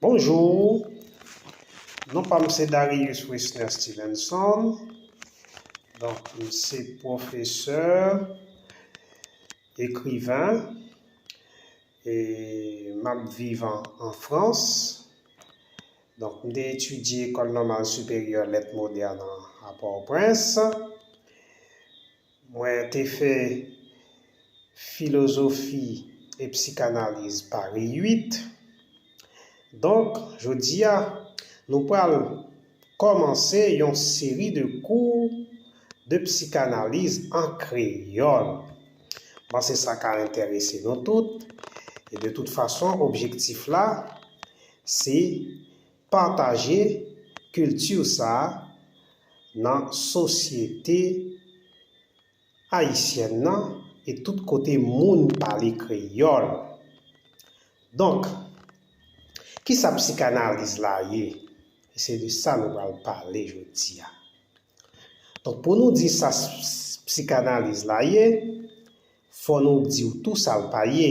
Bonjour non pa m se Darius Wesner Stevenson donk m se pwofesè ekriven e m ap viv an frans donk m te etidye ecole normale supérieure lettres modernes a port au prince Mwen te fè filozofi e psikanaliz Pari 8. Donk, jodi a, nou pral kòmanse yon seri de kou de psikanaliz an kreyòl. M panse sa ka enterese nou tout. E de tout fason, objektif la, se Pataje culture sa nan sosyete Ayisyèn nan e tout kote moun pale kreyòl. Donk, kisa psikanaliz la ye? E se de sa nou pral pale jodi a. Donk pou nou di sa psikanaliz la ye, fò nou di w tou sa l pa ye.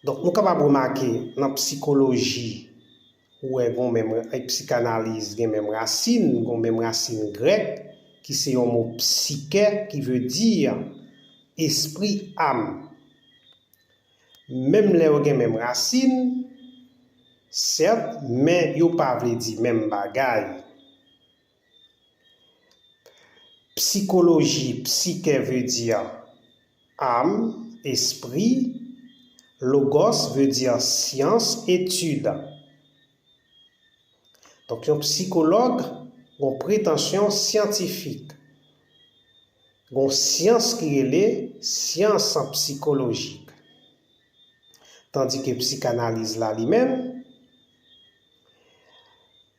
Donk nou kapab remake nan psikoloji ou wè gon menm, e psikanaliz gen menm rasin, gon menm rasin grèk ki se yon mo psykè ki vle di espri, am. Menm lè yo gen menm rasin, sèt, men yo pa vle di menm bagay. Psikoloji, psykè veu dir âme, espri, logos veu dir syans, etid. Donk yon psikològ gon pretansyon syantifik. Gon syans ki rele syans psikolojik. Tandike psikanaliz la li menm,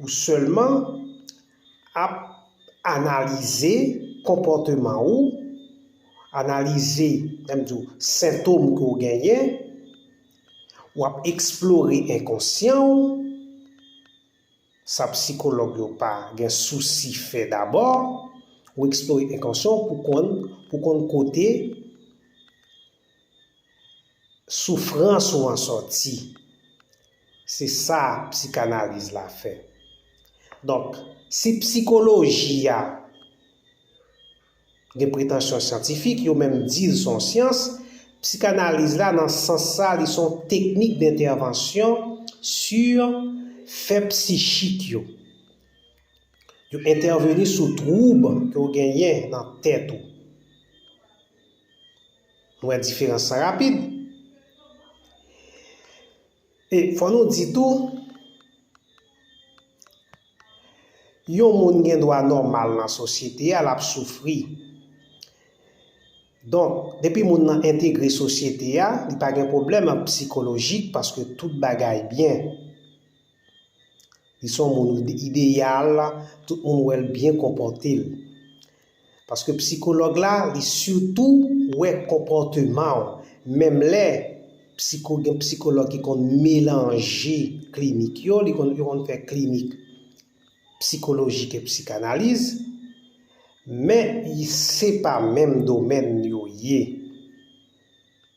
Ou sèlman ap analize konpòteman ou, analize, menm di w, sentom ke w genyen, w ap eksplore enkonsyan w, sa psikològ yo pa gen sousi fè dabò, ou eksplore enkonsyan w pou konn kote soufrans ou an sòti. Se sa psikanaliz la fè. Donk, si psikoloji a gen pretansyon syantifik, yo menm di l s on syans, psikanaliz la nan sans sa li s on teknik dentèvansyon sur fè psichik yo. Yo entèveni sou twoub ke w genyen nan tèt ou. Nou wè diferans lan rapid. E fò nou di tou, yon moun gen dwa nòmal nan sosyete a, l ap soufri. Donk, depi moun nan entegre sosyete a, li pa gen pwoblèm psikolojik paske tout bagay byen. Li se yon moun ideyal, tout moun wè l byen konpòte l. Paske psikològ la li sitou wè konpòteman w menm lè psiko gen psikològ ki konn melanje klinik yo, li konn yo konn fè klinik psikolojik e psikanaliz men se pa menm domèn yo ye.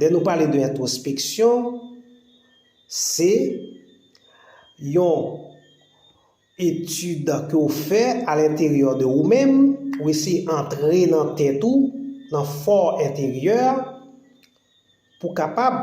Lè nou pale de entwospeksyon, se yon etid ke w fè a lenteryè de ou menm, ou eseye antre nan tèt ou, nan fò enteryè, pou kapab.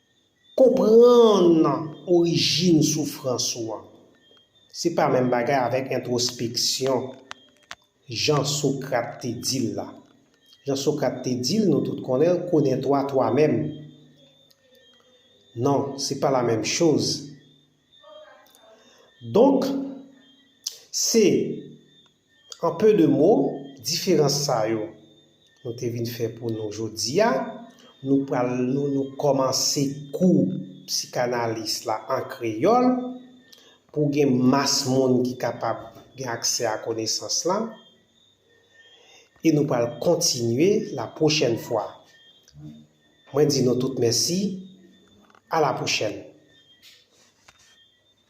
Konprann orijin soufrans ou an, se pa menm bagay avèk entwospeksyon, jan Sokrat te di l la. Jan Sokrat te di l, nou tout konnen l, Connais-toi toi-même. Non, se pa la menm choz. Donk, se, an pe de mo, diferans sa yo nou te vin fè pou nou jodi a. Nou pral nou nou kòmanse kou psikanalis la an kreyòl pou gen mas moun ki kapab gen aksè a konesans lan. E nou pral kontinye lapwochèn fwa. Mwen di nou tout mèsi, a la pwochèn.